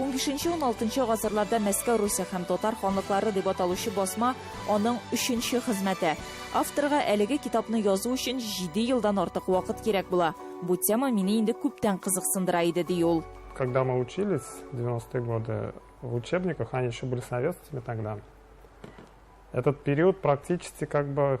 Унбишенче-уналтынчы гасырларда Мәскәү Русе һәм Татар ханлыклары дип аталучы басма аның өченче хезмәте. Авторга әлеге китапны язу өчен җиде елдан артык вакыт кирәк була. Бу тема мине инде күптән кызыксындыра иде, ди ул. Когда мы учились, девяностые годы, в учебниках, они еще были советскими тогда, этот период практически как бы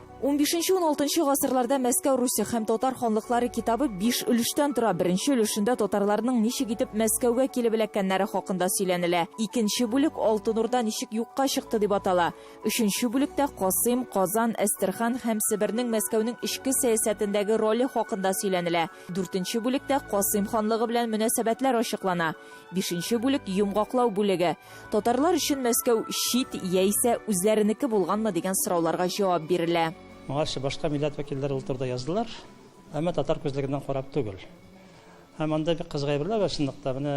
Унбишенче-уналтынчы гасырларда Мәскәү Русе һәм татар ханлыклары китабы биш өлештән тора. Беренче өлешендә татарларның ничек итеп Мәскәүгә килеп эләккәннәре хакында сөйләнелә. Икенче бүлек Алтын Урда ничек юкка чыкты дип атала. Өченче бүлектә Касыйм, Казан, Әстерхан һәм Себернең Мәскәүнең эчке сәясәтендәге роле хакында сөйләнелә. Дүртенче бүлектә Касыйм ханлыгы белән мөнәсәбәтләр ачыклана. Бишенче бүлек, йомгаклау бүлеге. Татарлар өчен Мәскәү чит яисә үзләренеке булганмы дигән сорауларга җавап бирелә. Моңарчы башка милләт вәкилләре ул турыда яздылар, әмма татар күзлегеннән карап түгел. Һәм анда бик кызык әйберләр бар чынлыкта. Менә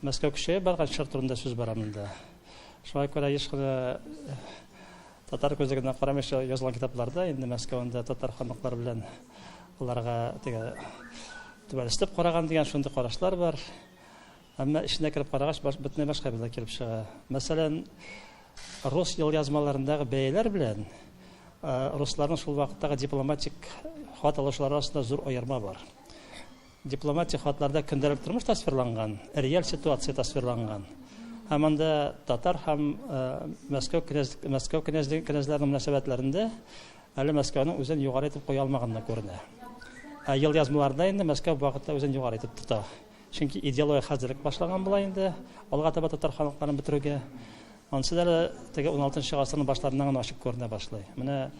Мәскәү көчәеп барган чор турында сүз бара монда. Шуңа күрә еш кына э, татар күзлегеннән карамыйча язылган китапларда инде Мәскәүдә татар ханлыклары белән аларга теге түбәнестеп караган дигән шундый карашлар бар. Әмма эченә кереп карагач, бөтенләй башка бәла килеп чыга. Мәсәлән, рус елъязмаларындагы бәяләр белән русларның шул вакыттагы дипломатик хат алышлары арасында зур аерма бар. Дипломатик хатларда көндәлек тормыш тасвирланган, реаль ситуация тасвирланган. Һәм анда татар һәм Мәскәү князь Мәскәү князьлеге князьләренең мөнәсәбәтләрендә әле Мәскәүнең үзен югары итеп куя алмаганына күренә. Ә елъязмаларда инде Мәскәү вакытта үзен югары итеп тота. Чөнки идеология хәзер үк башлаган була инде, алга таба татар халыкларын бетерүгә. Ансы да теге 16 гасырның башларыннан гына ачык күренә башлый. Менә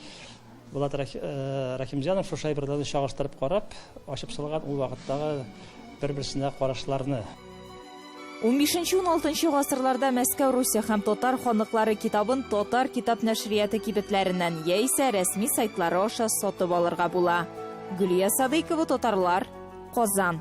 Булат Рахимҗанов шушы әйберләрне чагыштырып карап, ачып салган ул вакыттагы бер-берсенә карашларны. 15-16 гасырларда Мәскәү Русия һәм татар ханлыклары китабын татар китап нәшрияты кибетләреннән яисә рәсми сайтлары аша сатып алырга була. Гөлия Садыйкова, Татарлар, Казан.